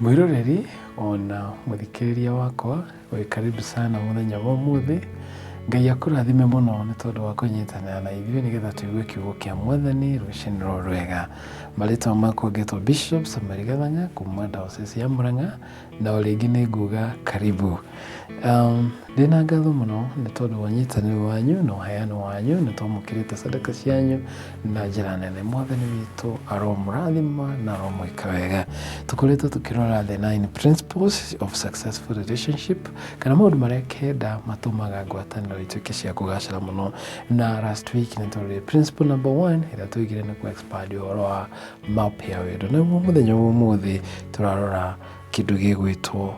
Mwĩroreri ona mũthikĩrĩria wakwa wĩ karibu sana mũthenya wa ũmũthĩ ngai akũrathime mũno nĩ tondũ wa kũnyitanĩra na ithuĩ nĩgetha tũigue kiugo kĩa mwathani rũcinĩ rwa rwega marĩtwa makwa ngetwo bishop samari gathanga kuma ndaosesi ya mũrang'a na o rĩngĩ nĩ nguga karibu um, ndĩna ngatho mũno nĩ tondũ wa nyitanĩro wanyu na ũheano wanyu nĩ twamũkĩrĩte sadaka cianyu na njĩra nene mwathani witũ aromũrathima na aromwĩka wega tũkoretwo tũkĩrora the nine principles of successful relationship kana maũndũ marĩa kenda matũmaga ngwatanĩro ituĩke cia kũgacĩra mũno na last week nĩ tũrorire principle number one ĩrĩa tũigire nĩ kũ expand ũhoro wa map ya wendo naguo mũthenya wa ũmũthĩ tũrarora kĩndũ gĩgwĩtwo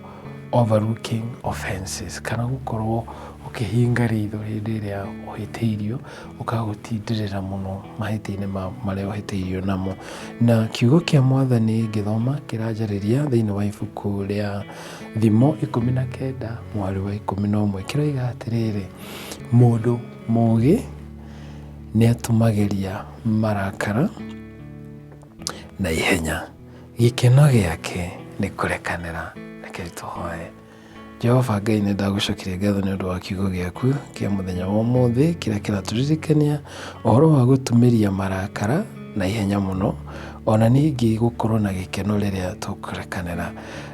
overlooking offenses kana gũkorwo ũkĩhinga ritho hĩndĩ ĩrĩa ũhĩtĩirio ũkagũtindĩrĩra mũno mahĩtia-inĩ marĩa ũhĩtĩirio namo na kiugo kĩa mwathani ngĩthoma kĩranjarĩria thĩinĩ wa ibuku rĩa thimo ikũmi na kenda mwarĩ wa ikũmi na ũmwe kĩroiga atĩrĩrĩ mũndũ mũgĩ nĩ atũmagĩria marakara na ihenya gĩkeno gĩake nĩ kũrekanĩra reke tũhoe jehova ngai nĩ ndagũcokire ngatho nĩ ũndũ wa kiugo gĩaku kĩa mũthenya wa ũmũthĩ kĩrĩa kĩratũririkania ũhoro wa gũtumĩria marakara na ihenya mũno ona ningĩ gũkorwo na gĩkeno rĩrĩa tũkũrekanĩra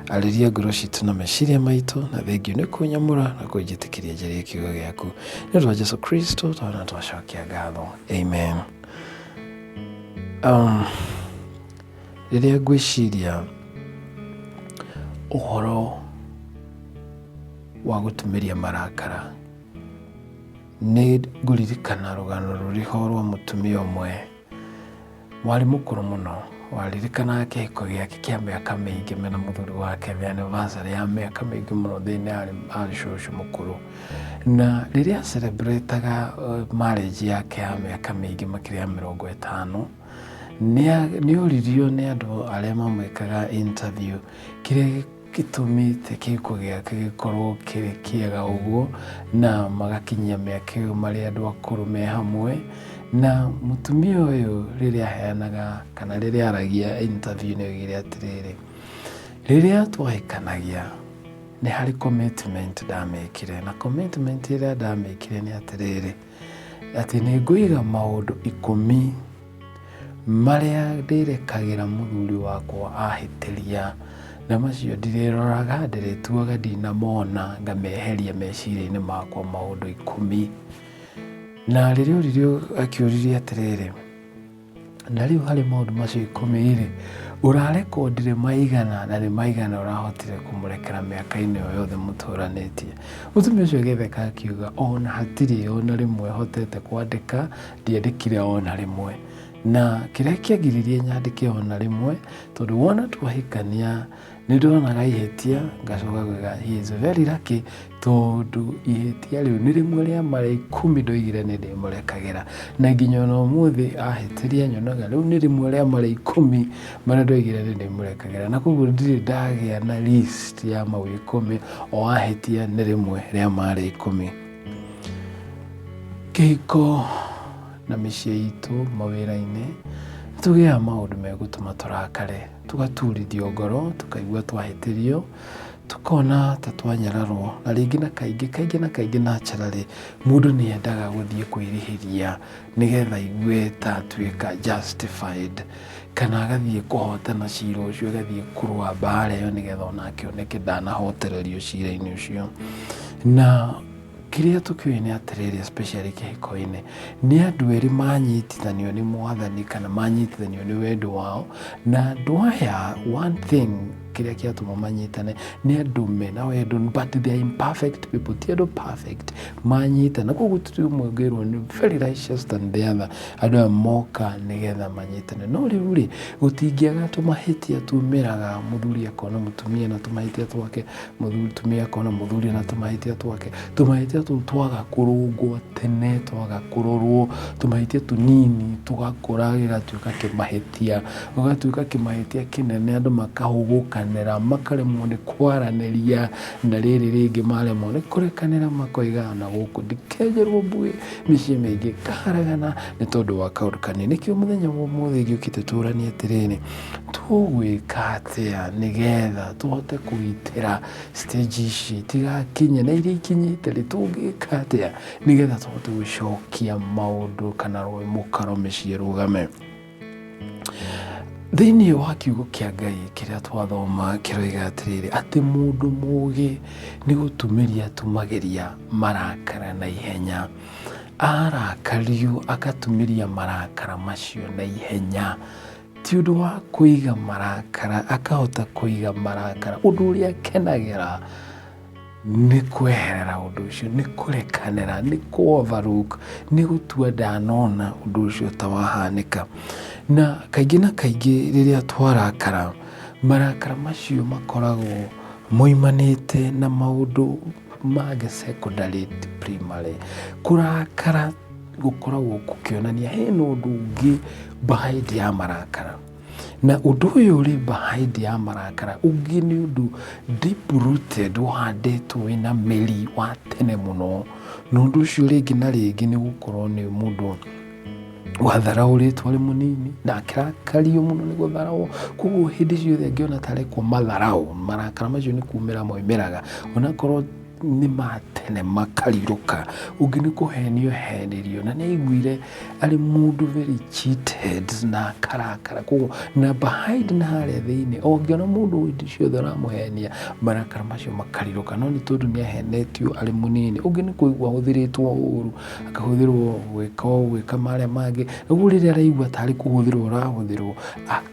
arĩria ngoro citũ na meciria maitũ na thengiũ nĩ kũnyamũra na kũnjĩtĩkĩria njĩrĩa kiugo gĩaku nĩ ũndũ wa jesu kristo twana twacokia ngatho amen Um, rĩrĩa ngwĩciria ũhoro wa gũtumĩria marakara nĩ ngũririkana rũgano rũrĩho rwa mũtumia ũmwe warĩ mũkũrũ mũno waririkanaga kĩhiko gĩake kĩa mĩaka mĩingĩ mena mũthuri wake anniversary ya mĩaka mĩingĩ mũno thĩinĩ arĩ cũcũ mũkũrũ Na rĩrĩa celebrataga uh, marriage yake ya mĩaka mĩingĩ makĩria ya mĩrongo ĩtano nĩ oririo nĩ andũ arĩa mamwĩkaga interview kĩrĩa gĩtũmĩte kĩhiko gĩake gĩkorwo kĩrĩ kĩega ũguo na magakinyia mĩaka ĩyo marĩ andũ akũrũ me hamwe na mũtumia ũyũ rĩrĩa aheanaga kana rĩrĩa aragia interview nĩ oigire atĩrĩrĩ rĩrĩa twahĩkanagia Nĩ harĩ commitment ndamekire na commitment ĩrĩa ndamekire nĩ atĩrĩrĩ atĩ nĩ ngũiga maũndũ ikũmi marĩa ndĩrekagĩra mũthuri wakwa ahĩtĩria na macio ndirĩroraga ndĩrĩtuaga ndinamona ngameheria meciria-inĩ makwa maũndũ ikũmi na rĩrĩa ũririo akĩũririe atĩrĩrĩ Na rĩu harĩ maũndũ macio ikũmi-rĩ, ũrarekondire maigana na nĩ maigana ũrahotire kũmũrekera mĩaka-inĩ ĩyo yothe mũtũranĩtie? Mũtumia ũcio agĩtheka akiuga, o na hatirĩ o na rĩmwe hotete kwandĩka, ndiandĩkire o na rĩmwe. Na kĩrĩa kĩagiririe nyandĩke o na rĩmwe, tondũ wona twahikania nĩ ndonaga ihĩtia ngacoka gwĩka he is very lucky tondũ ihĩtia rĩu nĩ rĩmwe rĩa mara ikũmi ndoigire nĩ ndĩmũrekagĩra na nginya ona ũmũthĩ ahĩtĩria nyonaga rĩu nĩ rĩmwe rĩa mara ikũmi marĩa ndoigire nĩ ndĩmũrekagĩra na koguo ndirĩ ndagĩa na list ya mau ikũmi o ahĩtia nĩ rĩmwe rĩa mara ikũmi kĩhiko na mĩciĩ itũ mawĩra-inĩ tũgĩaga maũndũ megũtũma tũrakare tũgaturithio ngoro tũkaigua twahĩtĩrio tũkona ta twanyararwo na rĩngĩ na kaingĩ kaingĩ na kaingĩ na ncararĩ mũndũ nĩ endaga gũthiĩ kwĩrĩhĩria nĩgetha aigue ta atuĩka justified kana agathiĩ kũhotana cira ũcio agathiĩ kũrũa mbara ĩyo nĩgetha ona akĩoneke ndanahotererio cira-inĩ ũcio na Kĩrĩa tũkĩũĩ nĩ atĩrĩrĩ, especially kĩhiko-inĩ, nĩ andũ erĩ manyitithanio nĩ mwathani kana manyitithanio nĩ wendo wao, na andũ aya one thing kĩrĩa kĩatũma manyitane nĩ andũ mena wendo but they are imperfect people ti andũ perfect manyitana koguo tũtũ ũmwe ngĩrwo nĩ very righteous than the other andũ aya moka nĩgetha manyitane no rĩu rĩ gũtingĩaga tũmahĩtia tumĩraga mũthuri akona mũtumia na tũmahĩtia twake mũtumia akona mũthuri na tũmahĩtia twake tũmahĩtia tũu twaga kũrũngwo tene twaga kũrorwo tũmahĩtia tũnini tũgakũra gĩgatuĩka kĩmahĩtia ũgatuĩka kĩmahĩtia kĩnene andũ makahũgũkanĩra makaremwo nĩ kwaranĩria na rĩrĩ rĩngĩ maremwo nĩ kũrekanĩra makoigana gũkũ ndikenjerwo mbuĩ mĩciĩ mĩingĩ kaharagana nĩ tondũ wa kaũndũ kanini nĩkĩo mũthenya wa ũmũthĩ ngĩũkĩte tũranie atĩrĩrĩ tũgwĩka atĩa nĩgetha tũhote kũgitĩra stage ici tigakinye na iria ikinyĩte rĩ tũngĩka atĩa nĩgetha tũhote gũcokia maũndũ kana rũĩ mũkaro mĩciĩ rũgame thĩinĩ wa kiugo kĩa ngai kĩrĩa twathoma kĩroiga atĩrĩrĩ atĩ mũndũ mũgĩ nĩ gũtumĩria tumagĩria marakara na ihenya arakario agatumĩria marakara macio na ihenya ti ũndũ wa kũiga marakara akahota kũiga marakara ũndũ ũrĩa akenagĩra nĩ kweherera ũndũ ũcio nĩ kũrekanĩra nĩ kuoverlook nĩ gũtua ndanona ũndũ ũcio ta wahanĩka na kaingĩ na kaingĩ rĩrĩa twarakara marakara macio makoragwo moimanĩte na maũndũ mangĩ secondary primary kũrakara gũkoragwo gũkĩonania hena ũndũ ũngĩ behind ya marakara. Na ũndũ ũyũ ũrĩ behind ya marakara ũngĩ nĩ ũndũ deep rooted ũhandĩtwo wĩna mĩri wa tene mũno. Na ũndũ ũcio rĩngĩ na rĩngĩ nĩ gũkorwo nĩ mũndũ watharaũrĩtwo arĩ mũnini na akĩrakario mũno nĩ gũtharaũo. Koguo hĩndĩ ciothe angĩona ta arekwo matharaũ, marakara macio nĩ kumĩra moimĩraga. Onakorwo... nĩ ma tene makarirũka ũngĩ nĩ kũhenio henirio na nĩ aiguire arĩ mũndũ very cheated na akarakara koguo na behind na harĩa thĩinĩ ũngĩona mũndũ hĩndĩ ciothe ũramũhenia marakara macio makarirũka no nĩ tondũ nĩ ahenetio arĩ mũnini ũngĩ nĩ kũigua ahũthĩrĩtwo ũru akahũthĩrwo gwĩka ũũ gwĩka marĩa mangĩ ũguo rĩrĩa araigua tarĩ kũhũthĩrwo ũrahũthĩrwo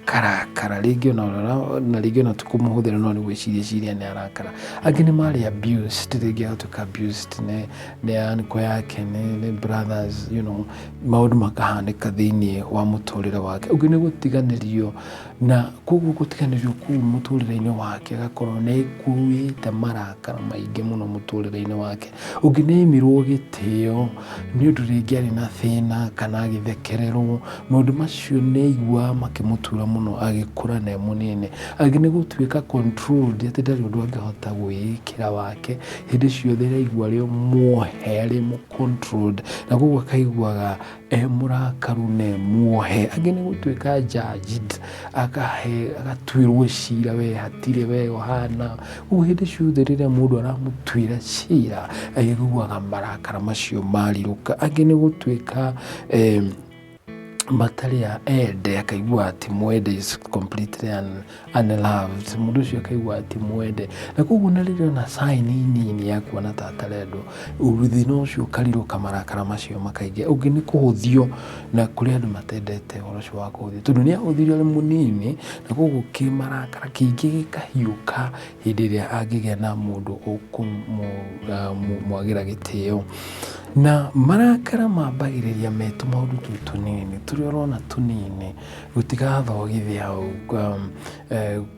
karakara rĩngĩ ona ũrara na rĩngĩ ona tikũmũhũthĩra no nĩ gwĩciria ciria nĩ arakara angĩ nĩ marĩ abused rĩngĩ agatuĩka abused nĩ nĩ anko yake nĩ nĩ brothers you know maũndũ makahanĩka thĩinĩ wa mũtũrĩre wake ũngĩ nĩ gũtiganĩrio na koguo gũtiganĩrio kuu mũtũrĩre-inĩ wake agakorwo nĩ kuuĩte marakara maingĩ mũno mũtũrĩre-inĩ wake ũngĩ nĩ aimirwo gĩtĩo nĩ ũndũ rĩngĩ arĩ na thĩna kana agĩthekererwo Maũndũ macio nĩ aiguaga makĩmũtura mũno agĩkũra na e mũnini. Angĩ nĩ gũtuĩka controlled atĩ ndarĩ ũndũ angĩhota gwĩĩkĩra wake. Hĩndĩ ciothe araigua arĩ o muohe, arĩ mũ controlled na kwoguo akaiguaga e mũrakaru na e muohe. Angĩ nĩ gũtuĩka judged agatuĩrwo cira we hatirĩ we ũhana. Ũguo hĩndĩ ciothe rĩrĩa mũndũ aramũtuĩra cira arĩiguaga marakara macio marirũka. Angĩ nĩ gũtuĩka matarĩ a ende akaigua ati mwende is completely un, unloved mũndũ ũcio akaigua ati mwende na koguo na rĩrĩa ona saini nini ya kuona ta atarendwo thĩna ũcio ũkarirũka marakara macio makaingĩ ũngĩ nĩ kũhũthio na kũrĩ andũ matendete ũhoro ũcio wa kũhũthio tondũ nĩ ahũthirio arĩ mũnini na koguo kĩmarakara kĩingĩ gĩkahiũka hĩndĩ ĩrĩa angĩgĩa na mũndũ ũkũmwagĩra gĩtĩo. Na marakara mambagĩrĩria me tũmaũndũ tũu tũnini, tũrĩa ũrona tũnini, gũtigathogithia hau,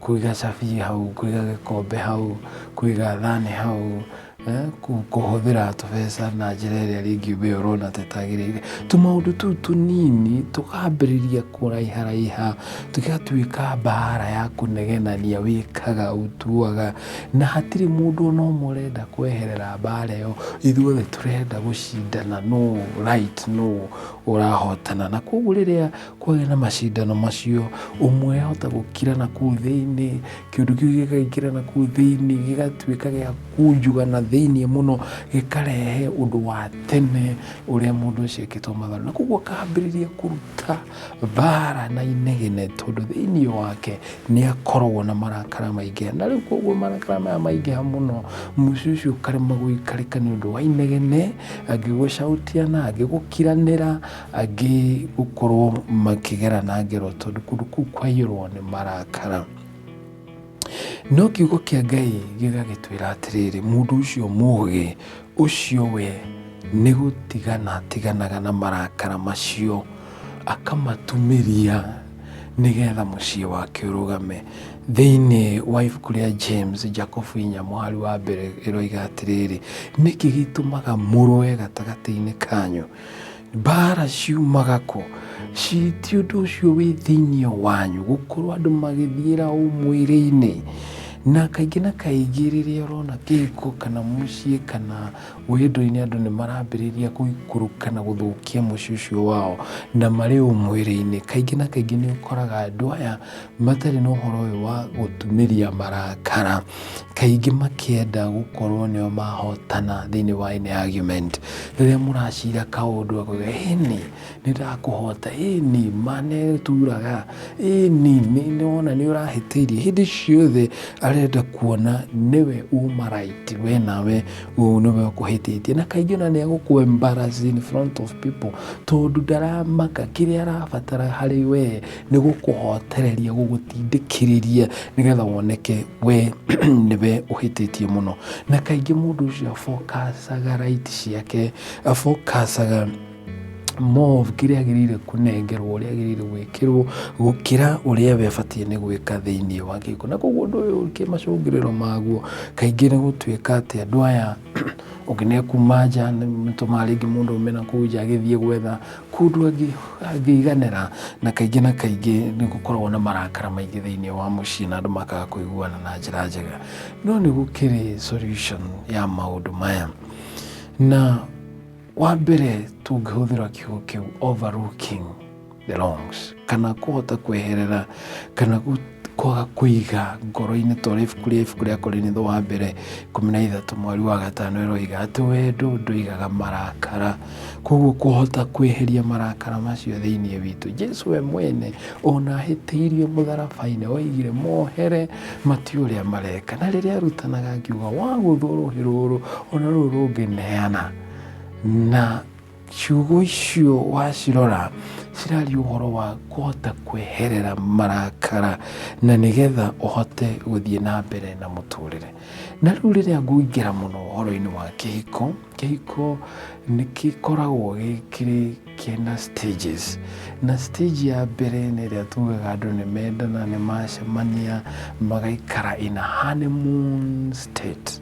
kũiga cabi hau, kũiga gĩkombe hau, kũiga thani hau, Eh, kũhũthĩra tũbeca na njĩra ĩrĩa rĩngĩ we ũrona tetagĩrĩire tũmaũndũ tũu tũnini tũkambĩrĩria kũraiharaiha tũgatuĩka mbara ya kũnegenania wĩkaga ũtuaga na hatirĩ mũndũ ona ũmwe ũrenda kweherera mbara ĩyo ithuothe tũrenda gũcindana no right no ũrahotana na koguo rĩrĩa kwagĩa na macindano macio ũmwe ahota gũkira na kũu thĩinĩ kĩũndũ kĩu gĩkaingĩra na kũu thĩinĩ gĩgatuĩka gĩa kunjuga na thĩinĩ mũno gĩkarehe ũndũ wa tene ũrĩa mũndũ ũcio ekĩtwo matharu na koguo akambĩrĩria kũruta mbara na inegene tondũ thĩinĩ wake nĩ akoragwo na marakara maingĩ na rĩu koguo marakara maya maingĩha mũno mũciĩ ũcio ũkarema gũikarĩka nĩ ũndũ wa inegene angĩgũcautia na angĩgũkiranĩra angĩ gũkorwo makĩgera na ngero tondũ kũndũ kũu kwaiyũrwo nĩ marakara no kiugo kĩa ngai gĩgagĩtwĩra atĩrĩrĩ mũndũ ũcio mũgĩ ũcio we nĩ gũtigana atiganaga na marakara macio akamatumĩria nĩgetha mũciĩ wake ũrũgame thĩinĩ wa ibuku rĩa james jacobu inya mũhari wa mbere ĩroiga atĩrĩrĩ nĩkĩ gĩtũmaga mũrũe gatagatĩ-inĩ kanyu mbara ciumaga kũ ci ti ũndũ ũcio wĩ thĩinĩ wanyu gũkorwo andũ magĩthiĩra ũ mwĩrĩ-inĩ na kaingĩ na kaingĩ rĩrĩa ũrona kĩhiko kana mũciĩ kana wendo-inĩ andũ nĩ marambĩrĩria gũikũrũka na gũthũkia mũciĩ ũcio wao na marĩ ũ mwĩrĩ-inĩ kaingĩ na kaingĩ nĩ ũkoraga andũ aya matarĩ na ũhoro ũyũ wa gũtumĩria marakara, kaingĩ makĩenda gũkorwo nĩo mahotana thĩinĩ wa any argument. Rĩrĩa mũracira kaũndũ akauga ĩni nĩ ndakũhota, ĩni ma nĩ turaga, ĩni nĩ wona nĩ ũrahĩtĩirie. Hĩndĩ ciothe arenda kuona nĩwe uma right we nawe ũyũ nĩwe ũkũhĩtĩtie. Na kaingĩ ona nĩ egũkũ embarrass in front of people tondũ ndaramaka kĩrĩa arabatara harĩ we Nĩ gũkũhotereria gũgũtindĩkĩrĩria nĩ getha woneke we nĩwe ũhĩtĩtie mũno. Na kaingĩ mũndũ ũcio abokacaga right ciake, abokacaga more of kĩrĩa agĩrĩire kũnengerwo ũrĩa agĩrĩire gwĩkĩrwo gũkĩra ũrĩa we abatiĩ nĩ gwĩka thĩinĩ wa gĩko. Na koguo ũndũ ũyũ kĩmacũngĩrĩro maguo kaingĩ nĩ gũtuĩka atĩ andũ aya... ũkĩnekuma nja nĩtũmaga rĩngĩ mũndũ ume na kũu nja agĩthiĩ gwetha kũndũ angĩ- angĩiganĩra na kaingĩ na kaingĩ nĩ gũkoragwo na marakara maingĩ thĩinĩ wa mũciĩ na andũ makaga kũiguana na njĩra njega no nĩ gũkĩrĩ solution ya maũndũ maya na wa mbere tũngĩhũthĩra kiugo kĩu overlooking belongs kana kũhota kweherera kana gu- kwaga kũiga ngoro-inĩ twarĩ ibuku rĩa ibuku rĩa korinitho wa mbere ikũmi na ithatũ mweri wa gatano ĩroiga atĩ wendo ndũigaga marakara koguo kũhota kweheria marakara macio thĩinĩ witũ jesu we mwene ona ahĩtĩirie mũtharaba-inĩ oigire mohere mati ũrĩa mareka na rĩrĩa arutanaga akiuga wagũthwo rũhĩ rũrũ ona rũrũ rũngĩ neana na ciugo icio wacirora ciraria ũhoro wa kũhota kweherera marakara na nĩgetha ũhote gũthiĩ na mbere na mũtũrĩre na rĩu rĩrĩa ngũingĩra mũno ũhoro-inĩ wa kĩhiko kĩhiko nĩ gĩkoragwo gĩkĩrĩ kĩna stages na stage ya mbere nĩ ĩrĩa tugaga andũ nĩ mendana nĩ macemania magaikara in a honeymoon state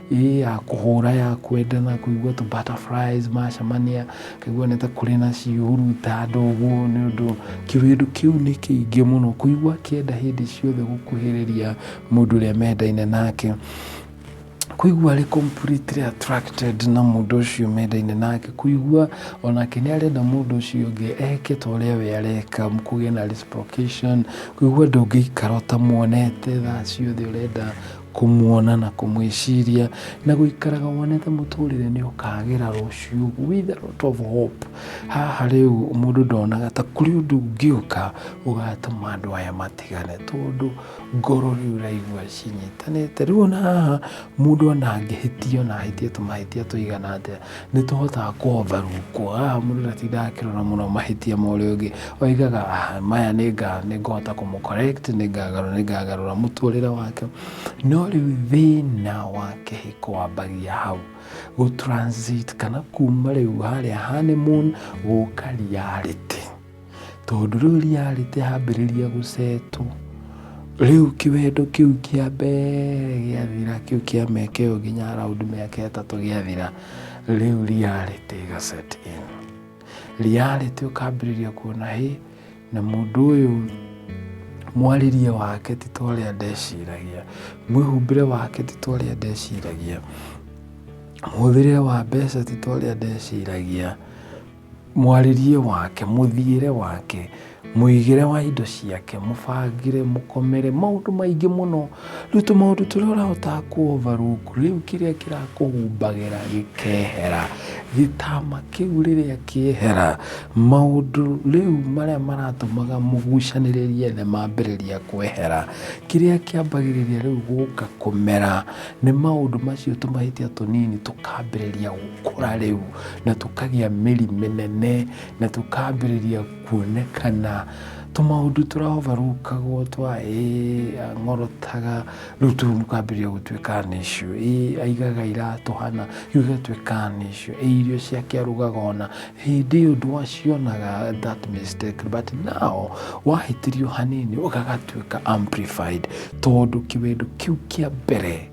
ĩĩ ya kũhũra ya kwendana kũigua tũ butterflies macemania kaigua nĩ ta kũrĩ na cihuruta andũ ũguo nĩ ũndũ kĩwĩndũ kĩu nĩ kĩingĩ mũno kũigua kĩenda hĩndĩ ciothe gũkuhĩrĩria mũndũ ũrĩa mendaine nake kũigua arĩ completely attracted na mũndũ ũcio mendaine nake kũigua onake nĩ arenda mũndũ ũcio ũngĩ eke ta ũrĩa we areka kũgĩa na reciprocation kũigua ndũngĩikara ũtamuonete thaa ciothe ũrenda kũmuona na kũmwĩciria na gũikaraga wonete mũtũrĩre nĩ ũkagĩra rũciũ with a lot of hope haha rĩu mũndũ ndonaga ta kũrĩ ũndũ ũngĩũka ũgatũma andũ aya matigane tondũ ngoro rĩu ũraigua cinyitanĩte rĩu ona haha mũndũ ona angĩhĩtia ona ahĩtia tũmahĩtia tũigana atĩa nĩ tũhotaga kũhotha rungu haha mũndũ ndatindaga akĩrora mũno mahĩtia ma ũrĩa ũngĩ oigaga "Ah, maya nĩ nga- nĩ ngũhota kũmũ correct nĩ ngagarũra nĩ ngagarũra mũtũrĩre wake no rĩu thĩna wa kĩhiko wambagia hau gũ transit kana kuma rĩu harĩa honeymoon gũka reality Tondũ rĩu reality yambĩrĩria gũcetwo, rĩu kĩwendo kĩu kĩa mbere gĩathira, kĩu kĩa mĩaka ĩyo nginya around mĩaka ĩtatũ gĩathira, rĩu reality ĩga set in. Reality ũkambĩrĩria kuona hĩ, na mũndũ ũyũ mwarĩrie wake ti ta ũrĩa ndeciragia, mwĩhumbĩre wake ti ta ũrĩa ndeciragia, mũhũthĩrĩre wa mbeca ti ta ũrĩa ndeciragia, mwarĩrie wake mũthiĩre wake mũigĩre wa indo ciake mũbangĩre mũkomere maũndũ maingĩ mũno rĩu tũ maũndũ tũrĩa ũrahota kũovarũku rĩu kĩrĩa kĩrakũhumbagĩra gĩkehera gĩtama kĩu rĩrĩa kĩehera maũndũ rĩu marĩa maratũmaga mũgucanĩrĩrie nĩ mambĩrĩria kwehera kĩrĩa kĩambagĩrĩria rĩu gũka kũmera nĩ maũndũ macio tũmahĩtia tũnini tũkambĩrĩria gũkũra rĩu. na tũkagĩa mĩri mĩnene na tũkambĩrĩria kuonekana tũmaũndũ tũraovarũkagwo twa ng'orotaga rĩu tũu mũkambĩrĩria gũtuĩka nĩcio aigaga iratũhana rĩu igatuĩka nĩcio irio ciake arugaga ona hĩndĩ ĩyo ndwacionaga that mistake but now wahĩtĩrio hanini ũgagatuĩka amplified tondũ kĩwendo kĩu kĩa mbere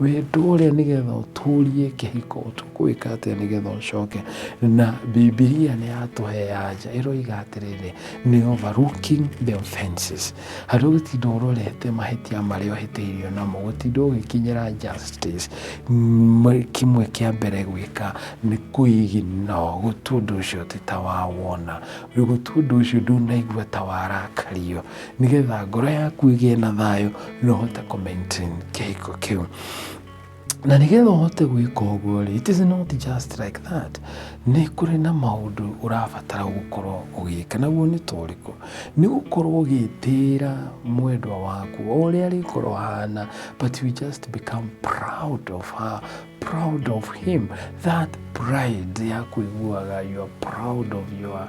wĩtũre nĩgetha ũtũrie kĩhiko ũtũkwĩka atĩa nĩgetha ũcoke na bibilia nĩ yatũhea anja ĩroiga atĩrĩrĩ nĩ overlooking the offenses harĩ gũtinda ũrorete mahĩtia marĩa ũhĩtĩirio namo gũtinda ũgĩkinyĩra justice M- kĩmwe kĩa mbere gwĩka nĩ kwĩgina gũtua ũndũ ũcio atĩ ta wawona gũtua ũndũ ũcio ndunaigua ta warakario nĩgetha ngoro yaku ĩgĩe na thayũ na ũhote kũ maintain kĩhiko kĩu na nĩgetha ũhote gwĩka ũguo rĩ it is not just like that nĩ kũrĩ na maũndũ ũrabatara gũkorwo ũgĩka naguo nĩ torĩkũ nĩ gũkorwo ũgĩtĩĩra mwendwa waku o ũrĩa arĩkorwo hana but you just become proud of her proud of him that pride ya kũiguaga you are proud of your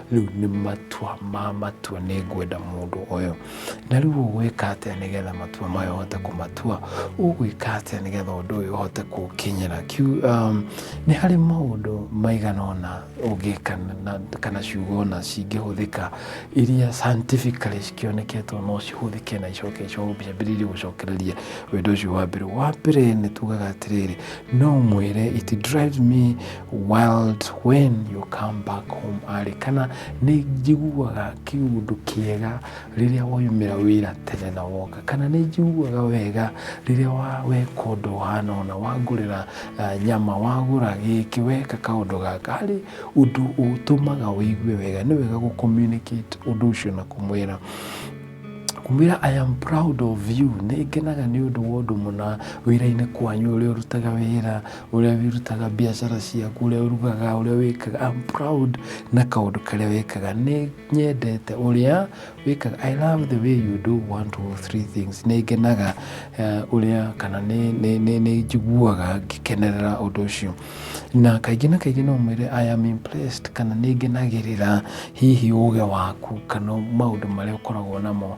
rĩu nĩ matua ma matua nĩ ngwenda mũndũ ũyũ na rĩu ũgwĩka atĩa nĩgetha matua mayo ũhote kũmatua ũgwĩka atĩa nĩgetha ũndũ ũyũ ũhote kũkinyĩra Kiu- um, nĩ harĩ maũndũ maigana ũna ũngĩka na- kana ciugo ona cingĩhũthĩka iria scientifically cikĩoneketwo no cihũthĩke na icoke ciambĩrĩrie gũcokereria wendo ũcio wa mbere wa mbere nĩ tugaga atĩrĩrĩ no mwĩre it drives me world when you come back home arĩ kana nĩ njiguaga kĩũndũ kĩega rĩrĩa waumĩra wĩra tene na woka kana nĩ njiguaga wega rĩrĩa wa- weka ũndũ ũhana ũna wangũrĩra ah, nyama wagũra gĩkĩ weka kaũndũ gaka harĩ ũndũ ũtũmaga wĩigue wega nĩ wega gũcommunicate ũndũ ũcio na kũmwĩra kumwĩra i am proud of you nĩ ngenaga nĩ ũndũ wa ũndũ mũna wĩra-inĩ kwanyu ũrĩa ũrutaga wĩra ũrĩa wĩrutaga biacara ciaku ũrĩa ũrugaga ũrĩa wĩkaga I'm proud na kaũndũ karĩa wĩkaga nĩ nyendete ũrĩa wĩkaga I love the way you do one two three things nĩ ngenaga eh, ũrĩa kana nĩ- nĩ nĩ- nĩ njiguaga ngĩkenerera ũndũ ũcio na kaingĩ na kaingĩ no mwĩre I am impressed kana nĩ ngenagĩrĩra hihi ũge waku kana maũndũ marĩa ũkoragwo namo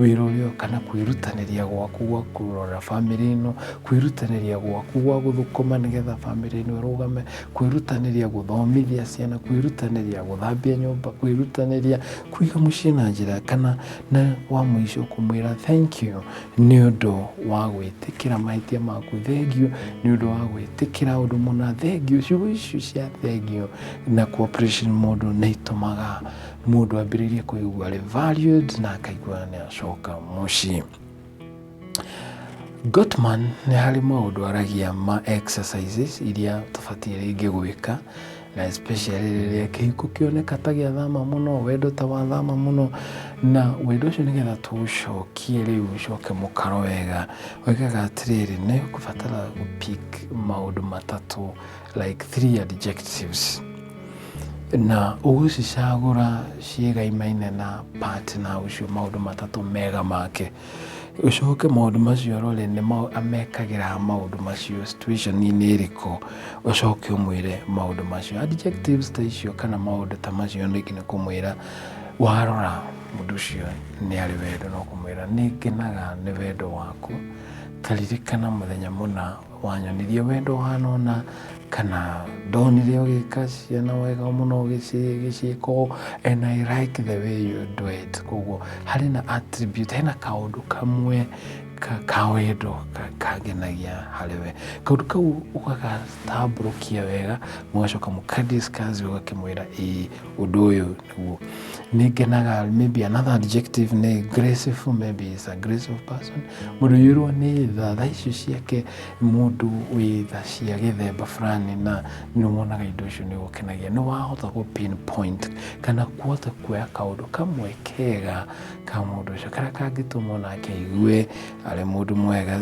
wĩra ũyũ kana kwĩrutanĩria gwaku gwa kũrora bamĩrĩ ĩno kwĩrutanĩria gwaku gwa gũthũkũma nĩgetha bamĩrĩ ĩno ĩrũgame kwĩrutanĩria gũthomithia ciana kwĩrutanĩria gũthambia nyũmba kwĩrutanĩria kũiga mũciĩ na njĩra kana na wa mũico kũmwĩra thank you nĩ ũndũ wa gwĩtĩkĩra mahĩtia maku thengiũ nĩ ũndũ wa gwĩtĩkĩra ũndũ mũna thengiũ ciugo icio cia thengiũ na cooperation mũndũ nĩ itũmaga mũndũ ambĩrĩirie kũigua arĩ valued na akaigua nĩ acoka mũciĩ Gottman nĩ harĩ maũndũ aragia ma exercises iria tũbatiĩ rĩngĩ gwĩka na especially rĩrĩa kĩhiko kĩoneka ta gĩa thama mũno wendo ta wa thama mũno na wendo ũcio nĩgetha tũũcokie rĩu ũcoke mũkaro wega wekaga atĩrĩrĩ nĩ kũbatara gũpik maũndũ matatũ like three adjectives na ũgũcicagũra ciĩgaimaine na partner ũcio maũndũ matatũ mega make ũcoke maũndũ macio rore nĩ mau- amekagĩra maũndũ macio situationinĩ ĩrĩkũ ũcoke ũmwĩre maũndũ macio adjectives ta icio kana maũndũ ta macio ningĩ nĩ kũmwĩra warora mũndũ ũcio nĩ arĩ wendo no kũmwĩra nĩ ngenaga nĩ wendo waku taririkana mũthenya mũna wanyonirie wendo wanona kana ndonire ũgĩka ciana wega mũno gĩciĩko and i like the way you do it koguo harĩ na attribute hena kaũndũ kamwe ka wendo kangenagia harĩ we kaũndũ kau ũgagatambũrũkia wega mũgacoka mũkadiscuss ũgakĩmwĩra ĩĩ ũndũ ũyũ Tuo. Nĩ ngenaga, maybe another adjective nĩ graceful, maybe is a graceful person. Mũndũ ũiyũirwo nĩ tha, tha icio ciake mũndũ wĩ tha cia gĩthemba fulani na nĩ wonaga indo icio nĩ gũkenagia. Nĩ wahota gũ pinpoint kana kuhota kuoya kaũndũ kamwe kega ka mũndũ ũcio karĩa kangĩtũma o nake aigue arĩ mũndũ mwega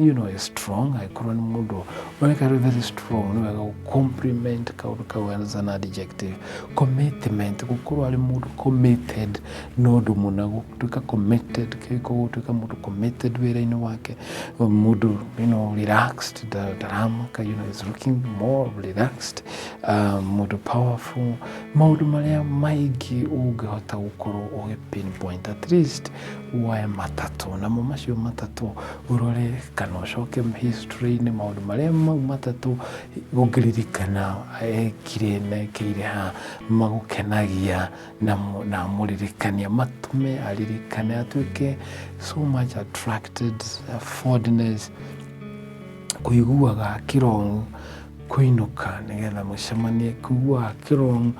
you know is strong angĩkorwo nĩ mũndũ ũreka arĩ very strong nĩ wega gũcompliment kaũndũ kau as an adjective commitment gũkorwo arĩ mũndũ committed nĩ ũndũ mũna gũtuĩka committed kĩrĩko gũtuĩka mũndũ committed wĩra-inĩ wake mũndũ you know relaxed ndaramaka you know is looking more relaxed uh, mũndũ powerful maũndũ marĩa maingĩ ũngĩhota gũkorwo ũgĩ pinpoint at least woe matatũ namo macio matatũ ũrore kana ũcoke history-inĩ maũndũ marĩa mau matatũ ũngĩririkana ekire mekĩire ha magũkenagia na mu- na mũririkania matume aririkane atuĩke so much attracted uh, fondness kũiguaga kĩrong'u kũinũka nĩgetha mũcemanie kuguaga kĩrong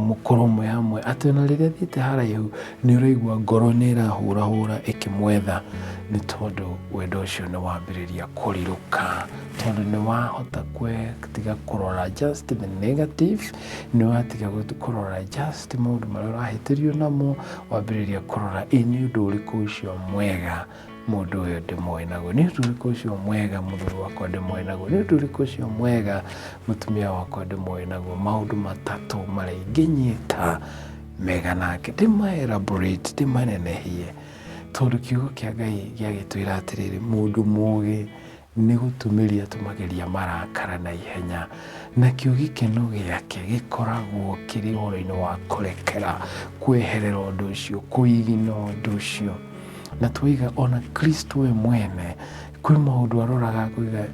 mũkoromo yamwe atĩ ona rĩrĩa thiĩte haraihu nĩ ũraigua ngoro nĩ ĩrahũrahũra ĩkĩmwetha nĩ tondũ wendo ũcio nĩ wambĩrĩria kũrirũka tondũ nĩ wahota kwetiga kũrora just the negative nĩ watiga kũrora just maũndũ marĩa ũrahĩtĩrio namo wambĩrĩria kũrora ĩ nĩ ũndũ ũrĩkũ ũcio mwega mũndũ ũyũ ndĩmũĩ naguo nĩ ũndũ ũrĩkũ ũcio mwega mũthuri wakwa ndĩmũĩ naguo nĩ ũndũ ũrĩkũ ũcio mwega mũtumia wakwa ndĩmũĩ naguo maũndũ matatũ marĩa ingĩnyita mega nake ndĩmaelaborate ndĩmanenehie tondũ kiugo kĩa ngai gĩagĩtwĩra atĩrĩrĩ mũndũ mũgĩ Nĩ gũtũmĩria tũmageria marakara na ihenya, nakĩo gĩkeno gĩake gĩkoragwo kĩrĩ ũhoro-inĩ wa kũrekera, kweherera ũndũ ũcio, kũigina ũndũ ũcio. Na twaiga ona Kristo we mwene kwĩ maũndũ aroraga akauga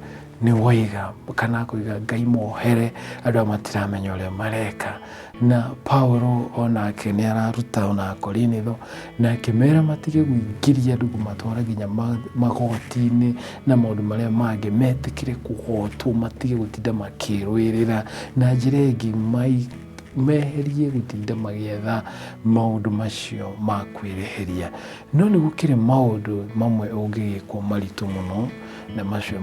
nĩ waiga kana akauga Ngai mohere andũ aya matiramenya ũrĩa mareka. Na Paulo o nake nĩ araruta o na Akorinitho, na akĩmera matige gwĩingĩria andũ kũmatwara nginya ma- magoti-inĩ na maũndũ marĩa mangĩ, metĩkĩre kũgotwo, matige gũtinda makĩrũĩrĩra. Na njĩra ĩngĩ mai- meherie gũtinda magĩetha maũndũ macio ma kwĩreheria. No nĩ gũkĩrĩ maũndũ mamwe ũngĩgĩkwo maritũ mũno, na macio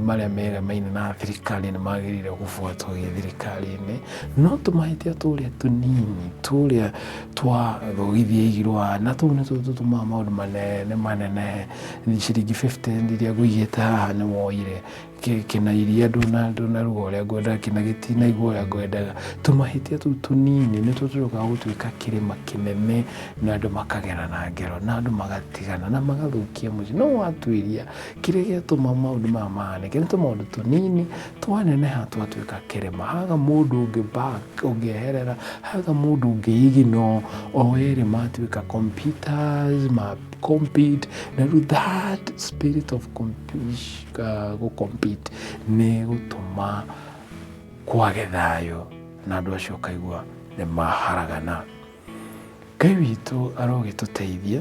marĩa meremaine na thirikari nĩ magĩrĩire gũbuatwo gĩ thirikari-inĩ no tũmahĩtia tũrĩa tũnini tũrĩa twa thogithia igirwa na tũu nĩtuo tũtũmaga maũndũ manene manene ciringi 50 iria ngũigĩte haha nĩ woire kĩna iria ndũnaruga ũrĩa ngwendaga kĩna gĩtinaigua ũrĩa ngwendaga tũmahĩtia tũu tũnini nĩtuo tũcokaga gũtuĩka kĩrĩma kĩnene na andũ makagera na ngero na andũ magatigana na magathũkia mũciĩ no watuĩria Kĩrĩa gĩatũma maũndũ maya mahanĩke nĩ tũmaũndũ tũnini twaneneha twatuĩka kĩrĩma. Haga mũndũ ũngĩ back ũngĩeherera, haga mũndũ ũngĩ ignore, o erĩ matuĩka computers, ma compete, na rĩu that spirit of compete- uh, gũ compete nĩ gũtũma kwage thayũ na andũ acio ũkaigua nĩ maharagana. Ngai witũ arogĩtũteithia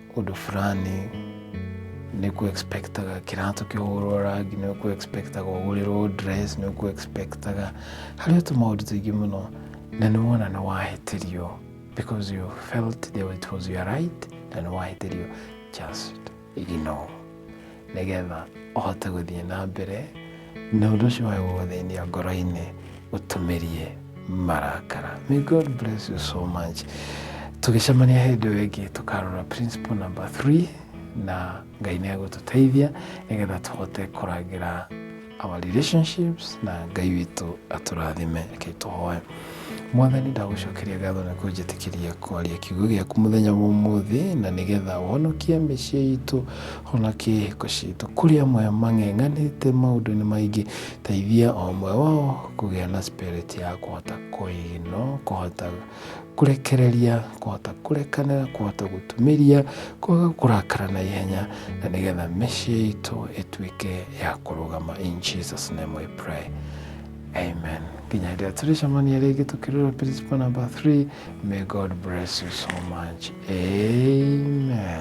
ũndũ fulani nĩ kũ expectaga kĩratũ kĩhũrwo rangi nĩ kũ expectaga ũgũrĩrwo dress nĩ kũ expectaga harĩ o tũmaũndũ tũingĩ mũno na nĩ wona nĩ wahĩtĩrio because you felt that it was your right na nĩ wahĩtĩrio just ignore nĩgetha ũhote gũthiĩ na mbere na ũndũ ũcio wagwo thĩinĩ wa ngoro-inĩ ũtũmĩrie marakara may god bless you so much tũgĩcemania hĩndĩ ĩyo ĩngĩ tũkarora principle number 3 na ngai nĩ agũtũteithia nĩgetha tũhote kũrangĩra our relationships na ngai witũ atũrathime reke tũhoe mwathani ndagũcokeria ngatho na kũnjĩtĩkĩria kwaria kiugo gĩaku mũthenya wa ũmũthĩ na nĩgetha wonokie mĩciĩ itũ honokie hĩko citũ kũrĩ amwe mang'eng'anĩte maũndũ-inĩ maingĩ teithia o ũmwe wao kũgĩa na spirit ya kũhota kũinwo kũhota kũrekereria kũhota kũrekanĩra kũhota gũtumĩria kwaga kũrakara na ihenya na nĩgetha mĩciĩ itũ ĩtuĩke ya kũrũgama in jesus name we pray amen nginya rĩrĩa tũrĩcemania rĩngĩ tũkĩrora principle number 3 may god bless you so much amen